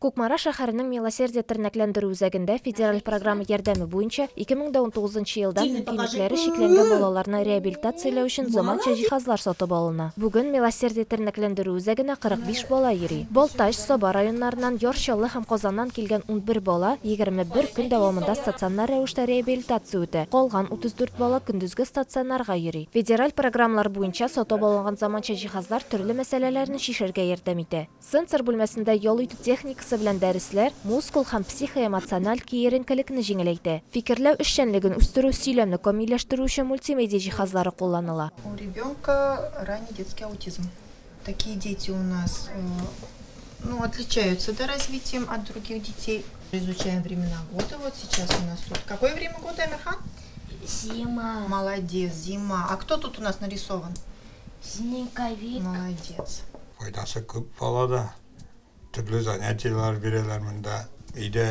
Кукмара шәһәренең Милосердие тернәкләндерү үзәгендә федераль программа ярдәме буенча 2009 елдан мөмкинлекләре чикләнгән балаларны реабилитацияләү өчен заманча җиһазлар сатып алына. Бүген Милосердие тернәкләндерү үзәгенә 45 бала йөри. Балтач, Саба районнарыннан, Яр Чаллы һәм Казаннан килгән унбер бала 21 көн дәвамында стационар рәвештә реабилитация үтә, калган 34 бала көндезге стационарга йөри. Федераль программалар буенча сатып алынган заманча җиһазлар төрле мәсьәләләрне чишәргә ярдәм итә. Сенсор бүлмәсендә ял итү техникасы белән дәресләр мускул һәм психоэмоциональ киеренкелекне җиңеләйтә. Фикерләү эшчәнлеген үстерү, сөйләмне камилләштерү өчен мультимедиа җиһазлары кулланыла. У ребенка ранний детский аутизм. Такие дети у нас, ну, отличаются, да, развитием от других детей. Изучаем времена года, вот сейчас у нас тут какое время года, Әмирхан? Зима. Молодец, зима. А кто тут у нас нарисован? Снеговик. Молодец. Файдасы күп балада. Төрле занятияләр бирәләр монда. Өйдә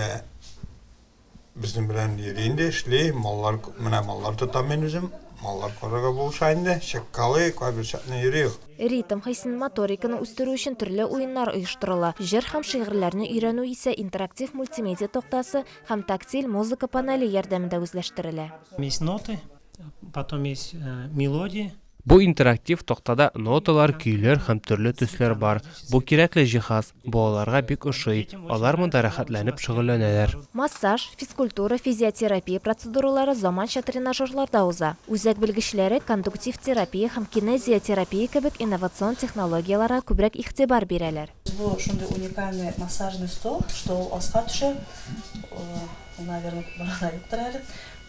безнең белән йөри инде, эшли. Маллар, менә маллар тотам мин үзем. Маллар карарга булыша инде. Чыккалый, кайбер чакны йөри ул. Ритм хисен, моториканы үстерү өчен төрле уеннар оештырыла. Җыр һәм шигырьләрне өйрәнү исә интерактив мультимедиа тактасы һәм тактиль музыка панеле ярдәмендә үзләштерелә. Есть ноты. Потом есть э, мелодии. Бу интерактив тактада ноталар, көйләр һәм төрле төсләр бар. Бу кирәкле җиһаз. Балаларга бик ошый. Алар монда рәхәтләнеп шөгыльләнәләр. Массаж, физкультура, физиотерапия процедуралары заманча тренажерларда уза. Үзәк белгечләре кондуктив терапия һәм кинезиотерапия кебек инновацион технологияләргә күбрәк игътибар бирәләр. Бу шундый уникальный массажный стол, что ул аска төшә. Ул, наверное, барда юктыр әле.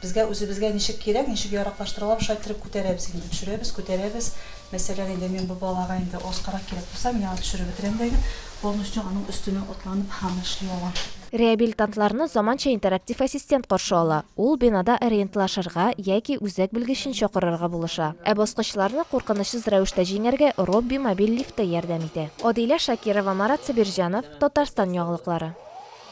Безгә үзебезгә ничек кирәк, ничек яраклаштырыла, шулай иттереп күтәрәбез инде. Төшерәбез, күтәрәбез. Мәсәлән, инде мин бу балага инде аскарак кирәк булса, мин аны төшереп бетерәм дә инде полностью аның өстенә атланып аны эшли алам. Реабилитантларны заманча интерактив ассистент каршы ала, ул бинада ориентлашырга яки үзәк белгечен чакырырга булыша. Ә баскычларны куркынычсыз рәвештә җиңәргә Робби мобиль лифты ярдәм итә. Адилә Шакирова, Марат Сабирҗанов, Татарстан яңалыклары.